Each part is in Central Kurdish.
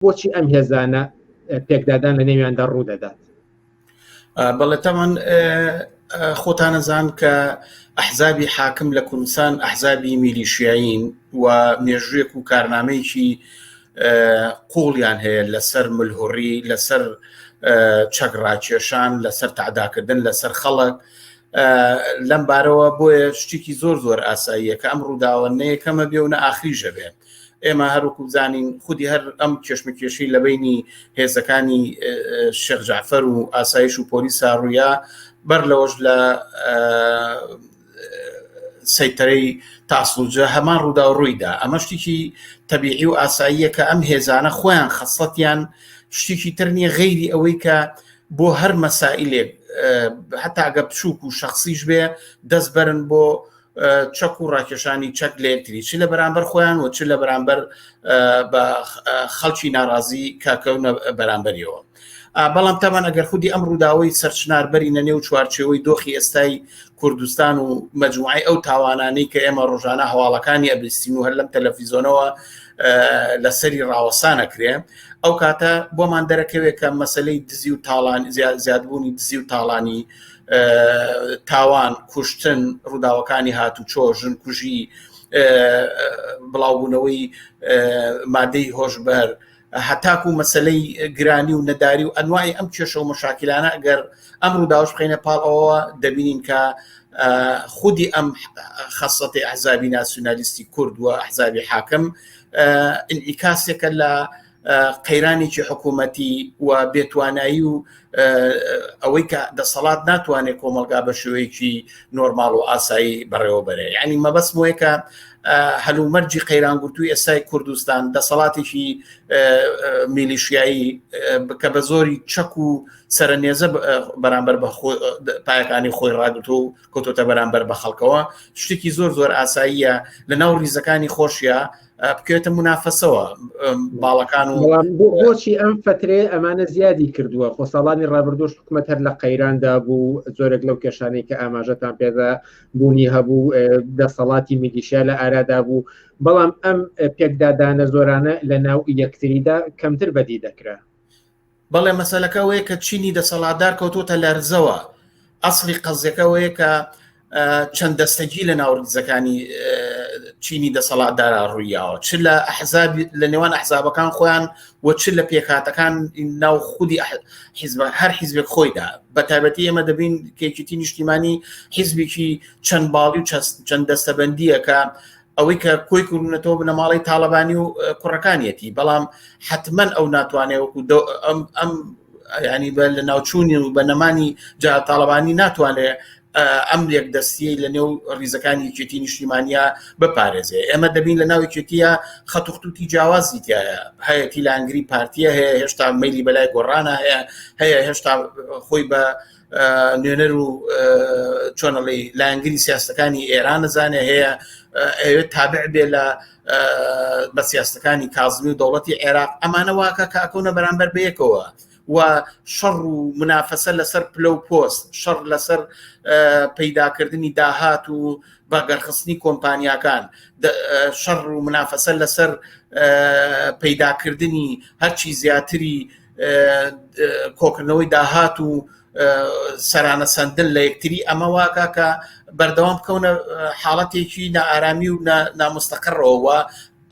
بۆچی ئەم هێزانە پێکدادان لە نێویاندا ڕوو دەدات بەڵێ تاوان خۆتانەزان کە ئەحزابی حاکم لە کوردستان ئەحزابی میلیشیایین و مێژوێک و کارنامەیەکی قوڵیان هەیە لەسەر ملهوڕی لەسەر چەک ڕاکێشان لەسەر تعداکردن لەسەر خەڵک لەم بارەوە بۆیە شتێکی زۆر زۆر ئاساییە کە ئەم ڕووداوە نەیەکەمە بێ و نە ئاخریژە بێن ئێمە هەروکو زانین خودی هەر ئەم کێشمەکێشی لە بینی هێزەکانی شێخ جعفەر و ئاسایش و پۆلی ساڕووە بەر لەوەش لە سەیتەرەی تاسلوجە هەمان ڕوودا و ڕوویدا ئەمە شتێکی تەبیعی و ئاساییە کە ئەم هێزانە خۆیان خەسڵەتیان شتێکی تر نییە غەیری ئەوەی کە بۆ هەر مەسائلێک هەتاگە بچووک و شخصیش بێ دەست بەرن بۆ چەک و ڕاکێشانی چەک لە یەکتری چ لە بەرامبەر خۆیان و چ لە بەرامبەر بە خەڵکی ناڕازی کاکەونە بەرامبەریەوە بەڵام تەمان ئەگەر خودی ئەم ڕووداوی سەرچناربەری نە نێو چوارچەوەی دۆخی ئێستای کوردستان و مجموعی ئەو تاوانانەی کە ئێمە ڕۆژانە هەواڵەکانی ئەبیستین و هەر لەم تەلەفیزۆنەوە لەسەری ڕاوەسانەکرێ ئەو کاتە بۆمان دەرەکەوێت کە مەسلەی دزی و تاڵان زیاد زیادبوونی دزی و تاڵانی تاوان کوشتن ڕووداوەکانی هاتوچۆ ژن کوژی بڵاوبوونەوەی مادەی هۆشبەر هەتاکو مەسلەی گرانی و نەداری و ئەنوای ئەم کێشە و مەشاکیلانە ئەگەر ئەم ڕووداوش بخینە پاڵ ئەوە دەبینین کە خودی ئەم خەسەتی ئەحزابی ناسیونالیستی کورد و ئەحزابی حاکم ئینعیکاسێکە لە قەیرانێکی حکوومەتی و بێتوانایی و ئەوەی کە دەسەڵات ناتوانێت کۆمەلگا بە شوەیەکی نۆرمال و ئاسایی بەڕێوەبەرێ ینی مەبەست وەیەکە هەلومەرجی قەیرانگوتوی ئێستای کوردستان دەسەڵاتێکی میلیشیایی بکە بە زۆری چەک و سەرنێزە بەرامبەر بە پایەکانی خۆی ڕاگرت و کۆتۆتە بەرامبەر بە خەڵکەوە شتێکی زۆر زۆر ئاساییە لە ناو ریزەکانی خۆشیە بکرێتە منافەسەوە باڵەکان و بۆچی ئەم فترێ ئەمانە زیادی کردووە خۆ ساڵانی ڕابردوش حکوومەت هەر لە قەیراندا بوو زۆرێک لەو کێشانەی کە ئاماژەتان پێدا بوونی هەبوو دەسەڵاتی میلیشیا لە ئارادا بوو بەڵام ئەم پێکدادانە زۆرانە لە ناو یەکتریدا کەمتر بەدی دەکرا بەڵێ مەسەلەکە ئەوەیە کە چینی دەسەڵاتدار کەوتوتە لەرزەوە ئەسڵی قەزیەکە ئەوەیە کە چەند دەستەگی لە ناوردزەکانی چینی دەسەڵاتدارا ڕوویاوە چ لە حزاب لە نێوان ئەحزابەکان خۆیان و چ لە پێکاتەکان ناو خودی حیزب هەر حیزبێک خۆیدا بە تایبەتی ئێمە دەبین کێکیتی نیشتیمانی حیزبێکی چەند باڵی و چەند دەستەبندیە کە ئەوەی کە کۆی کوردونەتەوە بنەماڵەی تاالبانی و کوڕەکانیەتی بەڵام حتممەن ئەو ناتوانێت وەکو ئەم ینی بە لە ناوچوونی و بە نەمانی جا تاالبانی ناتوانێت ئەم لێک دەستیە لە نێو ریزەکانی چێتی نیشتیمانیا بپارێزێ ئێمە دەبین لە ناوی چێتیە خەتوختوتی جیاوازی تایە هەیەی لانگری پارتیە هەیە هێشتا میلی بەلای گۆڕانە هەیە هەیە هێشتا خۆی بە نوێنەر و چۆنەڵی لایەنگری سیاستەکانی ئێران نەزانێ هەیە ئەوێت تابع بێ لە بە سیاستەکانی کازمی و دەوڵەتی عێراق ئەمانە واکە کاکەونە بەرامبەر بەیەکەوە و شەڕ و منافەسە لەسەر پلە و پۆست شەڕ لەسەر پەیداکردنی داهات و بەگەرخستنی کۆمپانیاکان شەڕ و منافەسە لەسەر پەیداکردنی هەرچی زیاتری کۆکردنەوەی داهات و سەرانە سندن لە یەکتری ئەمە واکە کە بەردەوام بکەونە حاڵەتێکی نائارامی و نامستەقڕەوە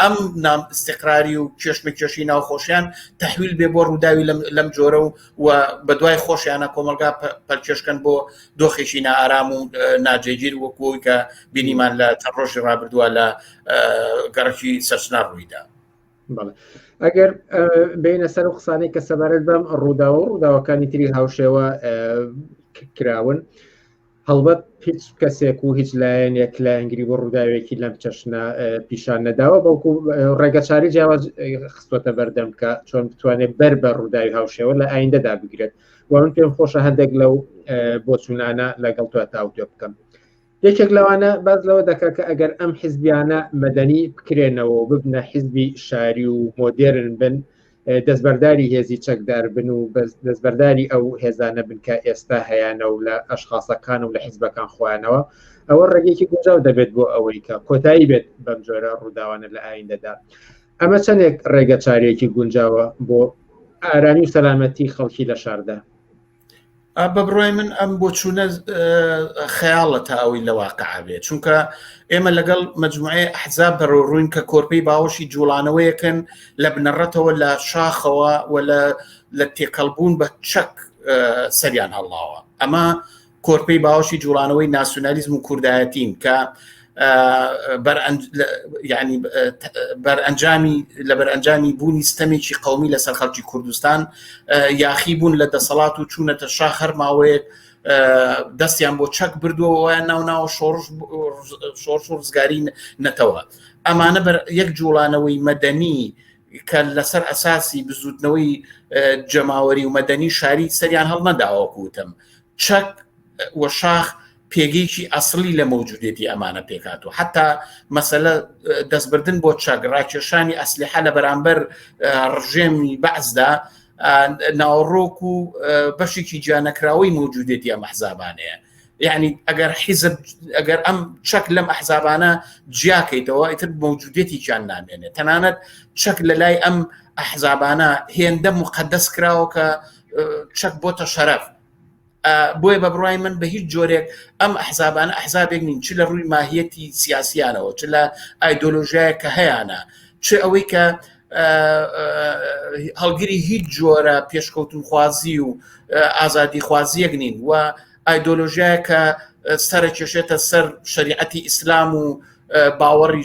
ئەم نام استقراری و کێشمە کێشی ناوخۆشیان تحویل بێ بۆ ڕووداوی لەم جۆرە و و بە دوای خۆشیانە کۆمەلگا پەلکێشکەن بۆ دۆخێکی نائارام و ناجێگیر وەکوی کە بینیمان لە چەند ڕۆژی ڕابردووە لە گەڕکی سەرچنا ڕوویدا. ئەگەر بینە سەر و قسانەی کە سەبارەت بەم ڕووداوە و ڕووداوەکانی تری هاوشێوە کراون هەڵبەت هیچ کەسێک و هیچ لایەن یەک لایەنگری بۆ ڕووداوێکی لەم چەشنە پیشان نەداوە بەڵکو ڕێگەچاری جیاواز خستۆتە بەردەم کە چۆن بتوانێت بەر بە ڕووداوی هاوشێوە لە ئایندەدا بگرێت وان پێم خۆشە هەندێک لەو بۆچوونانە لەگەڵ تو تاوتێ بکەم یەکێک لەوانە باز لەوە دەکە کە ئەگەر ئەم حیزبیانە مەدەنی بکرێنەوە و ببنە حیزبی شاری و مۆدێرن بن دەستبەرداری هێزی چەکدار بن و دەستبەرداری ئەو هێزانە بن کە ئێستا هەیەە و لە ئەشخاصەکان و لە حیزبەکان خۆیانەوە ئەوە ڕێگەیەکی گونجاو دەبێت بۆ ئەوەی کە کۆتایی بێت بەم جۆرە ڕووداوانە لە ئایندەدا ئەمە چەندێک ڕێگە چارێکی گونجاوە بۆ ئارامی و سەلامەتی خەڵکی لە شاردا بە بڕای من ئەم بۆچوونە خەیاڵە تا ئەوەی لە واقع بێت چونکە ئێمە لەگەڵ مجموعەیە حزاب بەرەو ڕووین کە کۆرپەی باوەشی جوڵانەوەیەکەن لە بنەڕەتەوە لە شاخەوە و لە تێکەڵبوون بە چەک سەریان هەڵاوە ئەمە کۆرپەی باوەشی جوڵانەوەی ناسیۆنالیزم و کوردایەتین کە بەرئەنجامی لە بەرئەنجامی بوونی ستەمێکی قومی لەسەر خەڵکی کوردستان یاخی بوون لە دەسەڵات و چوونەتە شاخ هەرماوەیەک دەستیان بۆ چەک بردووەوەیان ناو ناو شۆڕش شۆڕ شۆڕزگاری نەتەوە ئەمانە بەر یەک جوڵانەوەی مەدەنی کە لەسەر ئەساسی بزوتنەوەی جەماوەری و مەدەنی شاری سەریان هەڵنەداوە کوتم چەک وە شاخ پێگەیەکی ئەسڵی لە مەوجودێتی ئەمانە پێکاتوە حتا مەسەلە دەستبردن بۆ چاک ڕاکێشانی ئەسلیحە لە بەرامبەر ڕژێمی بەعزدا ناوەڕۆک و بەشێکی جیانەکراوەی مەوجودێتی ئەم حزابانەیە یعنی ئەگەر حیزب ئەگەر ئەم چەک لەم ئەحزابانە جیاکەیتەوە ئیتر مەوجودێتیان نامێنێت تەنانەت چەک لە لای ئەم ئەحزابانە هێندە مقدەس کراوە کە چەک بۆتە شەرەف بۆیە بە بڕای من بە هیچ جۆرێک ئەم ئەحزابانە ئەحزابێک نین چ لە ڕووی ماهیەتی سیاسیانەوە چ لە ئایدۆلۆژیایە کە هەیەە چ ئەوەی کە هەڵگری هیچ جۆرە پێشکەوتن خوازی و ئازادی خوازیەک نین و ئایدۆلۆژیایە کە سەرە کێشێتە سەر شریعەتی ئیسلام و باوەڕی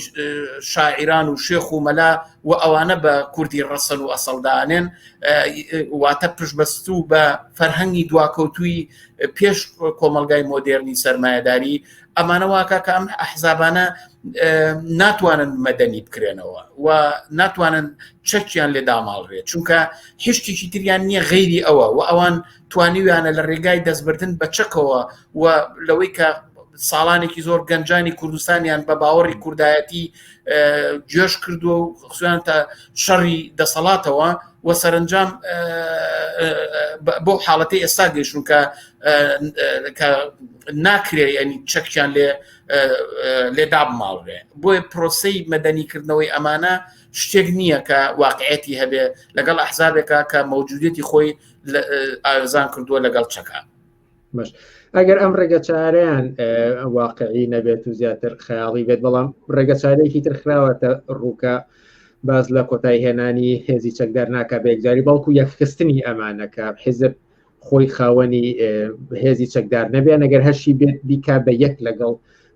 شاعیران و شێخ و مەلا و ئەوانە بە کوردی ڕەسەن و ئەسەڵدانێن واتە پشبەست و بە فەرهەنگی دواکەوتوی پێش کۆمەلگای مۆدێرنی سەرمایهداری ئەمانەواکە کە ئەم ئەحزابانە ناتوانن مەدەنی بکرێنەوە و ناتوانن چەکیان لێ داماڵرێت چونکە هشتێکی تریان نییە غەیری ئەوە و ئەوان توانیویانە لە ڕێگای دەستبردن بە چەکەوە و لەوەی کە ساڵانێکی زۆر گەنجانی کوردستانیان بە باوەڕی کوردایەتی جێش کردووە و خصوان تا شەڕی دەسەڵاتەوە و سەرنجام بۆ حاڵەتی ئێستا گەشتون کە ناکرێ ینی چەکیان لێ لێ دابماڵێ بۆی پرۆسی مەدەنیکردنەوەی ئەمانە شتێک نییە کە واقعەتی هەبێ لەگەڵ ئەحزابێکە کە مەوجودێتی خۆی ئارزان کردووە لەگەڵ چەکە باش ئەگەر ئەم ڕێگە چارەیان واقعی نەبێت و زیاتر خەیاڵی بێت بەڵام ڕێگە چارێکی تر خراوەتە ڕووکە باز لە کۆتای هێنانی هێزی چەکدار ناکە بێکجاری بەڵکو یەکخستنی ئەمانەکە حیزب خۆی خاوەنی هێزی چەکدار نەبێ نەگەر هەشی بێت بیکا بە یەک لەگەڵ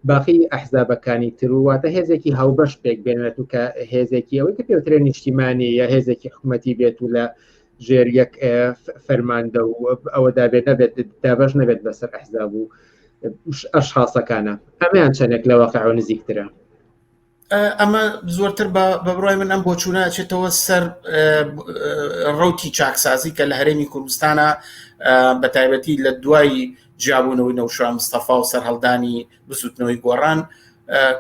باقی ئەحزابەکانی ترواتە هێزێکی هاوبەش پێک بێنێت و کە هێزێکی ئەوەی کە پێوترێن نیشتیمانی یا هێزێکی حکوومەتی بێت و لە ژێر یەک فەرماندە و ئەوە دابێت نەبێت دابش نەبێت بەسەر ئەحزاب و ئەش حاسەکانە ئەمیان چەندێک لە واقعەوە نزیکترە ئەمە زۆرتر بە بڕای من ئەم بۆچوونە چێتەوە سەر ڕوتی چاکسازی کە لە هەرێمی کوردستانە بە تایبەتی لە دوای جیابوونەوەی نەوشە مستەفا و سەرهەڵدانی بزوتنەوەی گۆڕان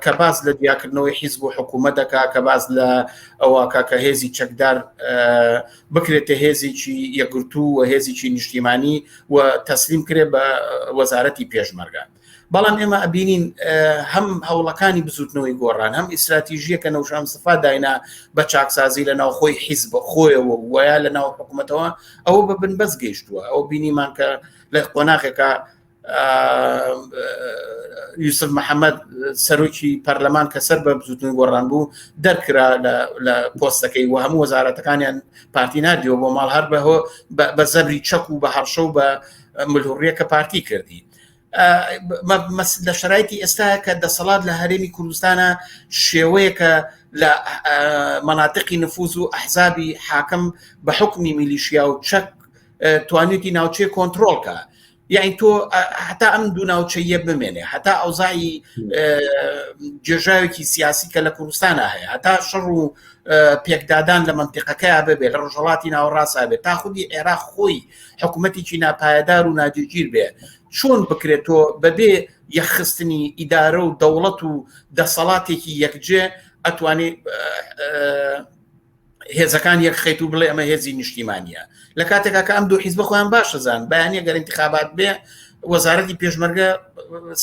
کە باز لە دیاکردنەوەی حیزب و حکوومەت دەکا کە باز لە ئەوواکە کە هێزی چەکدار بکرێتە هێزێکی یەگرتو و هێزیی نیشتیمانی و تەسلیم کرێ بە وەزارەتی پێشمەرگە بەڵام ئێمە ئەبینین هەم هەوڵەکانی بزوتنەوەی گۆڕان هەم ئیسراتیژیە کە نەوشان سفا داینا بە چاکسازی لە ناوخۆی حیز بە خۆیەوە وایە لە ناو حکوومەتەوە ئەوە بە بن بەس گەیشتووە ئەو بینیمان کە لە قۆناغێکە یوسف محەممەد سەرۆکی پەرلەمان کە سەر بە بزوتن گۆڕان بوو دەرکرا لە پۆستەکەی و هەموو وەزارەتەکانیان پارتی نردیەوە بۆ ماڵ هەر بەهۆ بە زەبری چەک و بە هەڕشە و بە ملهوڕیەکە پارتی کردی لە شرایتی ئێستا کە دەسەڵات لە هەرێمی کوردستانە شێوەیەکە لە مناتقی نفوز و ئەحزابی حاکم بە حکمی میلیشیا و چەک توانێتی ناوچەیە کۆنتترۆلکە یعنی تۆ هەتا ئەم دوو ناوچەیە بمێنێ هەتا ئەوزایی جێژاوێکی سیاسی کە لە کوردستانە هەیە هەتا شەڕ و پێکدادان لە منتیقەکەیا ببێت لە ڕژەڵاتی ناوەڕاستە بێت تا خودی عێرا خۆی حکوومەتێکی ناپایدار و ناجێگیر بێ چۆن بکرێت تۆ بەبێ یەخستنی ئیدارە و دەوڵەت و دەسەڵاتێکی یەکجێ ئەتوانێت هێزەکان یەکخیت و بڵێ ئەمە هێزی نیشتیمانە لە کاتێکا کە ئەم دوو حیزب خۆیان باشەزان بەیانە گەر انتخابات بێ وەزارەتی پێشمەرگە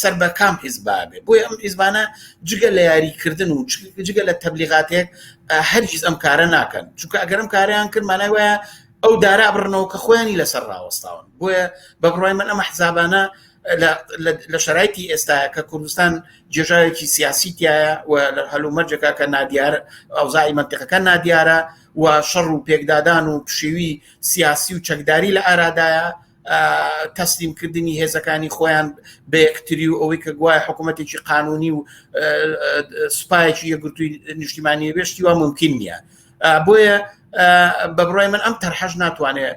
سەر بە کام حیزبا بێ بۆی ئەم حیزبانە جگە لە یاریکردن و جگە لە تەبلیغاتێک هەرگیز ئەم کارە ناکەن چونکە ئەگەرم کاریان کرد مانای وایە ئەو دارا بڕنەوە کە خۆیانی لەسەر ڕاوەستاون بۆیە بە بڕای من ئەمە حسابانە لە شەرایتی ئێستاە کە کوردستان جێژاوێکی سیاسی تایە و لە هەلومەرجەکە کە نادیار ئەوزای منتیقەکە نادیارە و شەڕ و پێکدادان و پشێوی سیاسی و چەکداری لە ئارادایە تەسلیمکردنی هێزەکانی خۆیان بە یەکتری و ئەوەی کە گوایە حکوومەتێکی قانونی و سوپایەکی یەگرتووی نیشتیمانی بێشتی وا ممکن نییە بۆیە بە بڕای من ئەم تەرحەش ناتوانێت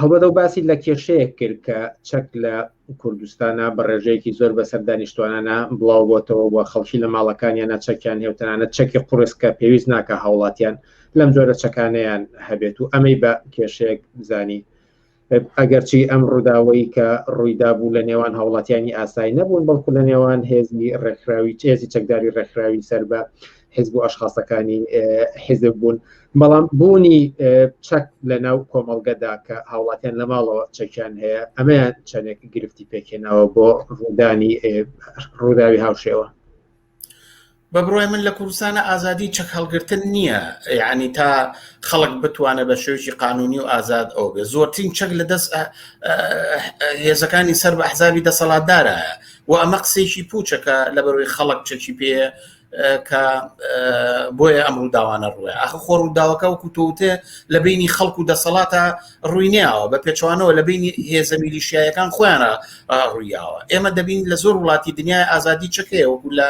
هەڵبەت ئەو باسی لە کێشەیەک کرد کە چەک لە کوردستانە بە ڕێژەیەکی زۆر بەسەر دانیشتوانانە بڵاو بۆتەوە و خەڵکی لە ماڵەکانیانە چەکیان هێوتەنانە چەکی قورسکە پێویست ناکە هاوڵاتیان لەم جۆرە چەکانیان هەبێت و ئەمەی بە کێشەیەک زانی ئەگەرچی ئەم ڕووداوەی کە ڕوویدا بوو لە نێوان هاوڵاتیانی ئاسایی نەبوون بەڵکو لە نێوان هێزی ڕێکخراوی چێزی چەکداری ڕێکخراوی سەر بە حزب و ئەشخاصەکانی حزب بوون بەڵام بوونی چەک لە ناو کۆمەڵگەدا کە هاوڵاتیان لە ماڵەوە چەکیان هەیە ئەمەیان چەندێک گرفتی پێکێناوە بۆ ڕوودانی ڕووداوی هاوشێوە بە بڕای من لە کوردستانە ئازادی چەک هەڵگرتن نییە یعنی تا خەڵک بتوانێت بە شێوکی قانونی و ئازاد ئەو بێ زۆرترین چەک لە دەست هێزەکانی سەر بە حزابی دەسەڵاتدارە و ئەمە قسێکی پوچەکە لە بەروی خەڵک چەکی پێ کە بۆیە ئەم ڕووداوانە ڕووە ئەخ خۆ ڕووداوەکە وەکو تۆوتێ لە بینی خەڵک و دەسەڵاتە ڕووینیاوە بە پێچوانەوە لە بینی هێزە میلیشیایەکان خۆیانە ڕوویاوە ئێمە دەبین لە زۆر وڵاتی دنیای ئازادی چەکەیە وەکو لە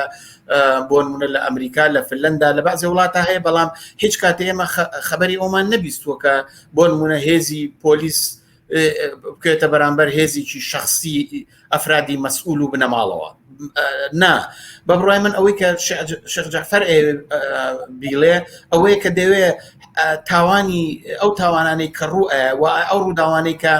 بۆ نمونە لە ئەمریکا لە فلەندا لە بەعزی وڵاتە هەیە بەڵام هیچ کاتێ ئێمە خەبەری ئەومان نەبیستووە کە بۆ نمونە هێزی پۆلیس بکرێتە بەرامبەر هێزیکی شخصی ئەفرادی مەسئول و بنەماڵەوە نا بە بڕای من ئەوەی کە شەخجافەر بیڵێ ئەوەیە کە دەوێ تاوانی ئەو تاوانانەی کە ڕوو و ئەو ڕووداوانەی کە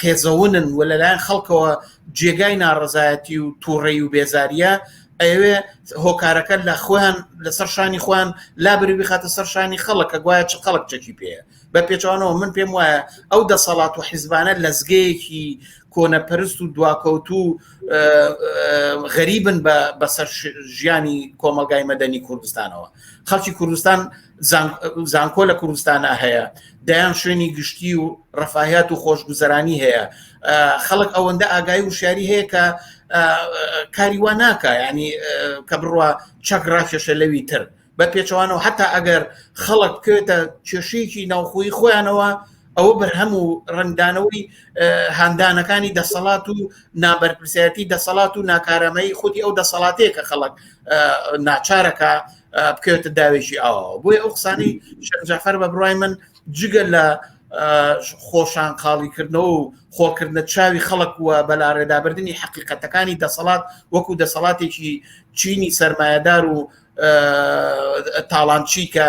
قێزەونن و لەلایەن خەڵکەوە جێگای ناڕزایەتی و تووڕێ و بێزاریە ئەوێ هۆکارەکە لە خۆیان لەسەر شانی خۆیان لابری بخاتە سەر شانی خەڵک کە گوایە چ خەڵک چەکی پێەیە بە پێچوانەوە من پێم وایە ئەو دەسەڵات و حیزبانە لەزگەیەکی کۆنەپەرست و دواکەوت و غەریبن بەسەر ژیانی کۆمەلگای مەدەنی کوردستانەوە خەڵکی کوردستان زانکۆ لە کوردستانە هەیە دەیان شوێنی گشتی و ڕفاهات و خۆشگوزەرانی هەیە خەڵک ئەوەندە ئاگای و شاری هەیە کە کاری وا ناکە ینی کە بڕە چەک ڕاکێشە لەوی تر بە پێچەوانەوە حتا ئەگەر خەڵک بکەوێتە کێشەیەکی ناوخۆی خۆیانەوە ئەوە بەرهەم و ڕنگدانەوەی هاندانەکانی دەسەڵات و نابەرپرسیەتی دەسەڵات و ناکارەمەی خودی ئەو دەسەڵاتەیە کە خەڵک ناچارەکە بکەوێتە داوێکی ئاوە بۆی ئەو قسانی شەرجەفەر بە بڕای من جگە لە خۆشان قاڵیکردنەوە و خۆکردە چاوی خەڵک وە بەلاڕێدابردننی حقیقەتەکانی دەسەڵات وەکو دەسەڵاتێکی چینی سرمایهدار و تاڵانچی کە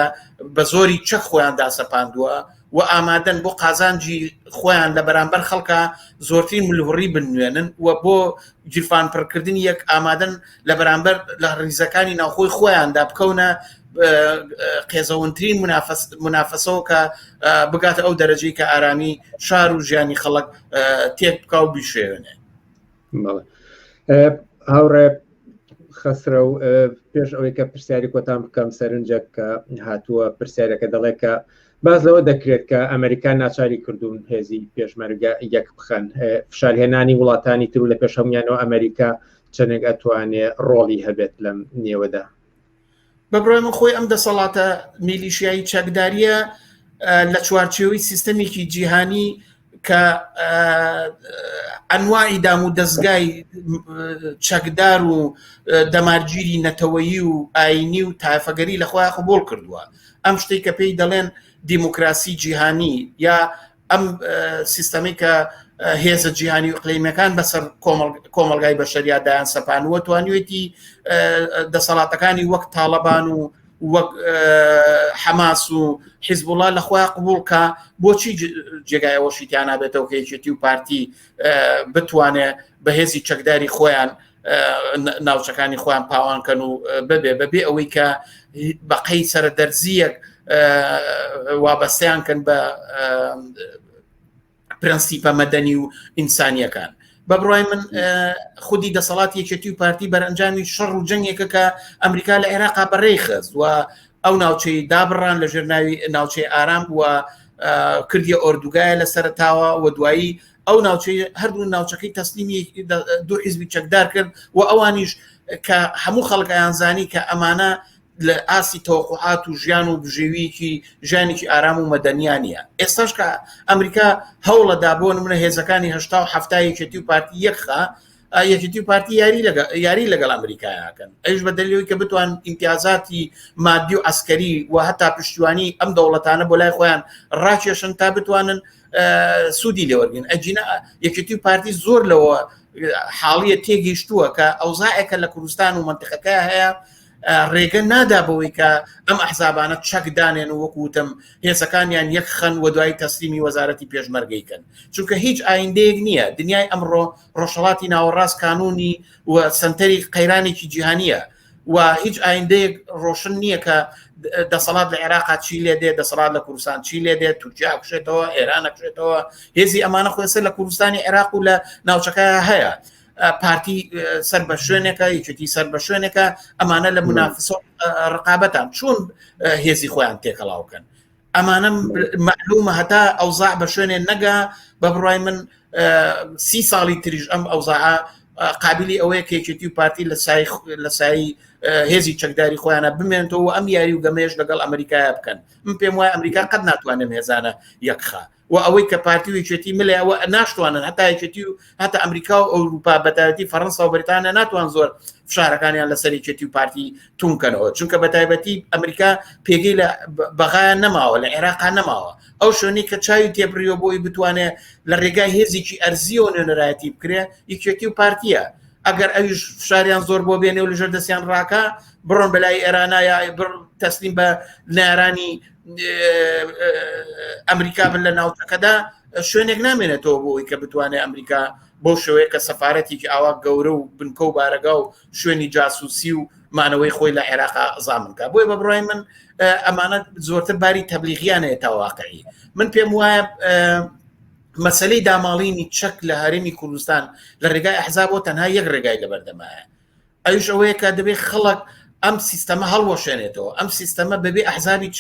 بە زۆری چەک خۆیان داسەپاندووە و ئامادەن بۆ قازانجی خۆیان لە بەرامبەر خەڵکە زۆرترین ملهوڕی بنوێنن و بۆ جیرفان پڕکردنی یەک ئامادەن لە بەرامبەر لە ڕیزەکانی ناوخۆی خۆیاندا بکەونە قێزەونترین منافەسەوە کە بگاتە ئەو دەرەجەی کە ئارامی شار و ژیانی خەڵک تێک بکە و بیشێوێنێ هاوڕێ خەسرە و پێش ئەوەی کە پرسیاری کۆتان بکەم سەرنجە کە هاتووە پرسیارەکە دەڵێت کە باز لەوە دەکرێت کە ئەمریکا ناچاری کردوون هێزی پێشمەرگە یەک بخەن فشارهێنانی وڵاتانی تر و لە پێش هەمویانەوە ئەمریکا چەندێک ئەتوانێ ڕۆڵی هەبێت لەم نێوەدا بە بڕای من خۆی ئەم دەسەڵاتە میلیشیایی چەکداریە لە چوارچێوەی سیستەمێکی جیهانی کە ئەنوایی دام و دەستگای چەکدار و دەمارگیری نەتەوەیی و ئاینی و تایفەگەری لەخوای قبول کردووە ئەم شتێک کە پێی دەڵێن دیموکراسی جیهانی یا ئەم سیستەمی کە هێزە جیهانی و قلیمەکان بەسەر کۆمەلگای بەشەریا دایان سەپانوە توانیوێتی دەسەڵاتەکانی وەک تاالبان و وەک حەماس و حیزبوڵا لە خۆیان قبولکە بۆچی جێگایەوەشیتیانابێتەوە کەیچێتی و پارتی بتوانێت بەهێزی چەکداری خۆیان ناوچەکانی خۆیان پاوانکەن و ببێ بەبێ ئەوەی کە بەقەی سرە دەرزیەک وابەستیان کەن بە پرەنسیپە مەدەنی و ئینسانیەکان بە بڕای من خودی دەسەڵات یەکێتی و پارتی بەرەنجامی شەڕ و جەنگێکە کە ئەمریکا لە عێراقا بەڕێ خست و ئەو ناوچەی دابڕان لە ژێرناوی ناوچەی ئارام بووە کردی ئۆردوگایە لە سەرتاوە و دوایی ئەو ناوچەی هەردوو ناوچەکەی تەسلیمی دوو حیزبی چەکدار کرد و ئەوانیش کە هەموو خەڵکیان زانی کە ئەمانە لە ئاستی تەوەقعات و ژیان و بژێویکی ژیانێکی ئارام و مەدەنیانە ئێستاش کە ئەمریکا هەوڵەدا بۆ منە هێزەکانی هشتا و هەفتایەکێتی و پارتی یەکخە یەکیتی و پارتی یاری لەگە یاری لەگەڵ ئەمریکایەکەن ئەوش بە دەلیەوەی کە بتوان ئیمتیازاتی مادی و ئەسکەری و هەتا پشتیوانی ئەم دەوڵەتانە بۆ لای خۆیان ڕاکێشن تا بتوانن سوودی لێوەرگن ئەجینا یەکێتی و پارتی زۆر لەوە حاڵیە تێگەیشتووە کە ئەوزائەکە لە کوردستان و منتقەکە هەیە ڕێگە نادا بەوەی کە ئەم ئەحزابانە چەکدانێن و وەکوتم هێزەکانیان یەک خەن و دوای تەسلیمی وەزارەتی پێشمەرگەیکەن چونکە هیچ ئایندەیەک نییە دنیای ئەمڕۆ ڕۆژهڵاتی ناوەڕاست کانونی و سنتەری قەیرانێکی جیهانیە و هیچ ئایندەیەک ڕۆشن نییە کە دەسەڵات لە عێراق چی لێ دێ دەسەڵات لە کوردستان چی لێ دێت تورکیا کوشێتەوە ئێرانە کوشێتەوە هێزی ئەمانە خۆێسە لە کوردستانی عێراق و لە ناوچەکە هەیە پارتی سەر بە شوێنێکە یەکێتی سەر بە شوێنێکە ئەمانە لە منافسۆ ڕقابەتان چون هێزی خۆیان تێکەڵاوکەن ئەمانە مەعلومە هەتا ئەوزاع بە شوێنێ نەگا بە بڕای من سی ساڵی تریش ئەم ئەوزاع قابلی ئەوەیە کێکێتی و پارتی لە سای لە سایی هێزی چەکداری خۆیانە بمێنەوە ئەم یاری و گەمێش لەگەڵ ئەمریکایە بکەن من پێم وایە ئەمریکا قەت ناتوانێت هێزانە یەکخە و ئەوەی کە پارتی و یەکێتی ملێ ئەوە ناشتوانن هەتا یەکێتی و هەتا ئەمریکا و ئەوروپا بەتایبەتی فەرەنسا و بریتانیا ناتوان زۆر فشارەکانیان لەسەر یەکێتی و پارتی تونکەنەوە چونکە بە تایبەتی ئەمریکا پێگەی لە بەغایان نەماوە لە عێراقا نەماوە ئەو شوێنی کە چاوی تێبریەوە بۆی بتوانێت لە ڕێگای هێزیی ئەرزیەوە نوێنەرایەتی بکرێ یەکێتی و پارتیە ئەگەر ئەویش فشاریان زۆر بۆ بێنێ و لەژێر دەستیان ڕاکە بڕۆن بەلای ئێرانە یا تەسلیم بە نارانی ئەمریکا بن لە ناوچەکەدا شوێنێک نامێنێتەوە بۆی کە بتوانێت ئەمریکا بۆ شوەیە کە سەفاەتێکی ئاوا گەورە و بنکە و بارەگا و شوێنی جاسوسی و مانەوەی خۆی لە عێراق زامنکە بۆی بە بڕای من ئەمانە زۆرتر باری تەبلیغیانەیە تا واقعی من پێم وایە مەسلەی داماڵینی چەک لە هەرێمی کوردستان لە ڕێگای ئەحزابەوە تەنها یەک ڕێگای لە بەردەمایە ئەوش ئەوەیە کە دەبێت خەڵک ئەم سیستەمە هەڵوەشێنێتەوە ئەم سیستەمە بەبێ ئەحزابی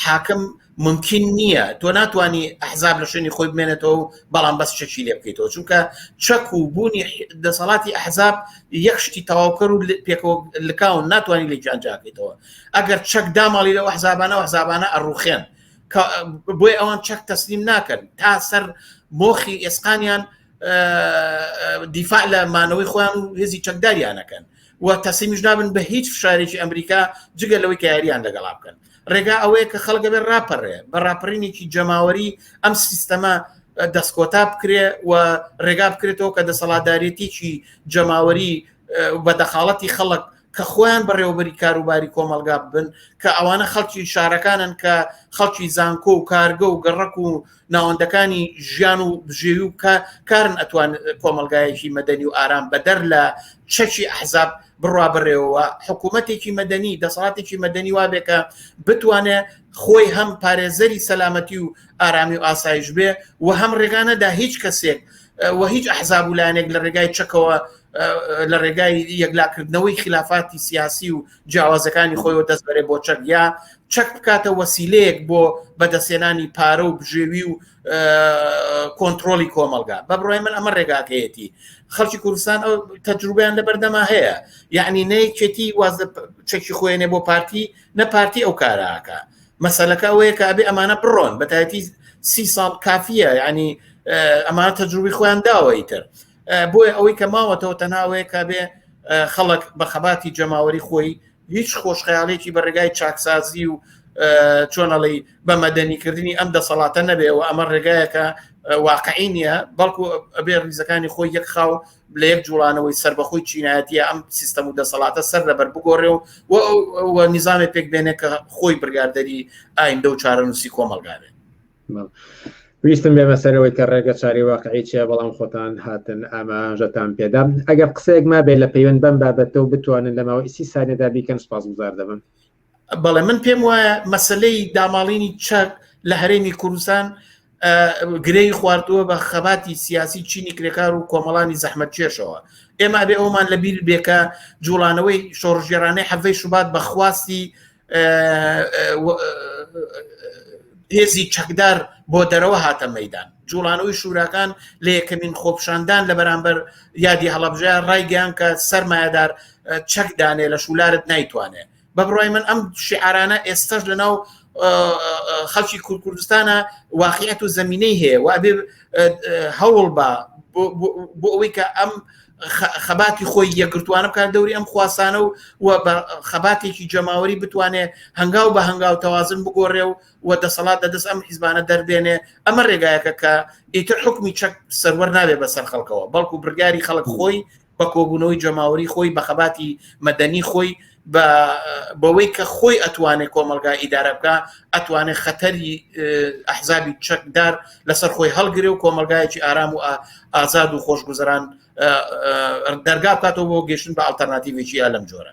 حاکم ممکن نییە تۆ ناتانی ئەحزاب لە شوێنی خۆی بمێنێتەوە و بەڵام بەس چەکی لێ بکەیتەوە چونکە چەک و بوونی دەسەڵاتی ئەحزاب یەک شتی تەواوکەر و پێکەوە لکاون ناتوانانی لە گیانجاکەیتەوە ئەگەر چەک داماڵی لە حزابانە حزابانە ئەڕوخێن بۆی ئەوان چەک تەسلیم ناکەن تا سەر مۆخی ئێسقانیان دیفاع لە مانەوەی خۆیان و هێزی چەکداریانەکەن و تەسیمیش نابن بە هیچ فشارێکی ئەمریکا جگە لەوەی کە یاریان لەگەڵا بکەن ڕێگا ئەوەیە کە خەڵگە بێ ڕاپەڕێ بە ڕاپەرینێکی جەماوەری ئەم سیستەمە دەستکۆتا بکرێ و ڕێگا بکرێتەوە کە دەسەڵاتدارێتیی جەماوەری بە دەخاڵەتی خەڵک کە خۆیان بەڕێوەبەری کاروباری کۆمەڵگا ببن کە ئەوانە خەڵکی شارەکانن کە خەڵکی زانکۆ و کارگە و گەڕک و ناوەندەکانی ژیان و بژێوی و کە کارن ئەتوان کۆمەلگایەکی مەدەنی و ئارام بەدەر لە چەکی ئەحزاب بڕوا بڕێەوە حکوومەتێکی مەدەنی دەسەڵاتێکی مەدەنی وابێکە بتوانێ خۆی هەم پارێزەری سەلامەتی و ئارامی و ئاسایش بێ و هەم ڕێگانەدا هیچ کەسێک و هیچ ئەحزاب و لایەنێک لە ڕێگای چەکەوە لە ڕێگای یەکلاکردنەوەی خلافاتی سیاسی و جیاوازەکانی خۆیەوە دەستبەرێ بۆ چەک یا چەک بکاتە وەسیلەیەک بۆ بەدەستێنانی پارە و بژێوی و کۆنتترۆلی کۆمەلگا بە بڕای من ئەمە ڕێگاکەیەتی خەڵکی کوردستان ئەو تەجروبیان لە بەردەما هەیە یعنی نەیکێتی واز چەکی خۆێنێ بۆ پارتی نە پارتی ئەو کاراکە مەسەلەکە ئەوەیە کە ئەبێ ئەمانە بڕۆن بەتایەتی سی ساڵ کافیە ینی ئەمانە تەجروبی خۆیان داوەی تر بۆیە ئەوەی کە ماوەتەوە تەناوەیە کە بێ خەڵک بە خەباتی جەماوەری خۆی هیچ خۆشخەیاڵێکی بە ڕێگای چاکسازی و چۆنەڵی بە مەدەنیکردنی ئەم دەسەڵاتە نەبێ و ئەمە ڕێگایەکە واقعی نییە بەڵکو ئەبێ ریزەکانی خۆی یەک خاو لە یەک جوڵانەوەی سربەخۆی چینایەتە ئەم سیستەم و دەسەڵاتە سەر لەبەر بگۆڕێ و نظامی پێک بێنێ کە خۆی بگاردەری ئایندە و چارەنووسی کۆمەلگارێ ویستم بێمە سەرەوەی کە ڕێگە چاری واقعی چیە بەڵام خۆتان هاتن ئاماژەتان پێدام ئەگەر قسەیەک ما بێت لە پەیوەند بەم بابەتە و بتوانن لە ماوە ئیسی سانێدا بیکەن سپاس گوزار دەبم بەڵێ من پێم وایە مەسلەی داماڵینی چەک لە هەرێمی کوردستان گرەی خواردووە بە خەباتی سیاسی چینی کرێکار و کۆمەڵانی زەحمەت چێشەوە ئێمە بێ ئەومان لە بیر بێکە جوڵانەوەی شۆڕژێرانەی حەڤەی شوبات بەخواستی هێزی چەکدار بۆ دەرەوە هاتە مەدان جوڵانەوەی شوراکان لە یەکەمین خۆپشاندان لە بەرامبەر یادی هەڵبژە ڕایگەیان کە سەرمایهدار چەک دانێ لە شولارت نایتوانێ بە بڕای من ئەم شعرانە ئێستاش لەناو خەڵکی کوردستانە واقعەت و زمینەی هەیە و ئەبێ هەوڵ بە بۆ ئەوەی کە ئەم خەباتی خۆی یەکگرتوانە بکات دەوری ئەم خواسانە و و بە خەباتێکی جەماوەری بتوانێ هەنگاو بە هەنگاو تەوازن بگۆڕێ و و دەسەڵات دە دەست ئەم حیزبانە دەربێنێ ئەمە ڕێگایەکە کە ئیتر حکومی چەک سەروەر نابێ بەسەر خەڵکەوە بەڵکو برگاری خەڵک خۆی بە کۆبوونەوەی جەماوەری خۆی بە خەباتی مەدەنی خۆی بە بەوەی کە خۆی ئەتوانێت کۆمەلگا ئیدارە بکە ئەتوانێت خەتەری ئەحزابی چەکدار لەسەر خۆی هەڵگرێ و کۆمەلگایەکی ئارام و ئازاد و خۆشگوزەران دەرگا بکاتەوە بۆ گەشتن بە ئەلتەرناتیڤێکی ئەلم جۆرە